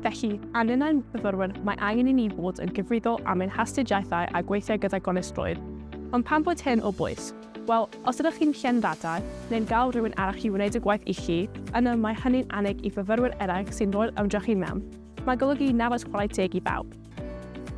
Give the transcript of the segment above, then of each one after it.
Felly, a ninnau'n fyfyrwyr, mae angen i ni fod yn gyfrifol am ein hastudiaethau a gweithio gyda gonestrwydd. Ond pam bod hyn o bwys? Wel, os ydych chi'n llên ddata, neu'n gael rhywun arall i wneud y gwaith i chi, yna mae hynny'n annig i fyfyrwyr eraill sy'n rhoi'r ymdrech i mewn. Mae'n golygu nafod chwarae teg i bawb.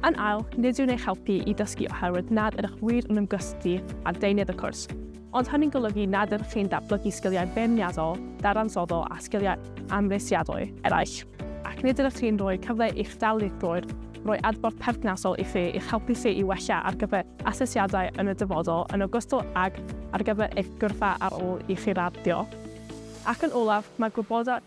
Yn ail, nid yw'n eich helpu i ddysgu oherwydd nad ydych wir yn ymgysylltu â deunydd y cwrs, ond hynny'n golygu nad ydych chi'n datblygu sgiliau beirniadol, dadansoddol a sgiliau amhrisiadwy eraill, ac nid ydych chi'n rhoi cyfle i'ch darlithwyr roi adborth perthnasol i chi i'ch helpu chi i wella ar gyfer asesiadau yn y dyfodol yn ogystal ag ar gyfer eich gyrfa ar ôl i chi raddio. Ac yn olaf, mae gwybodaeth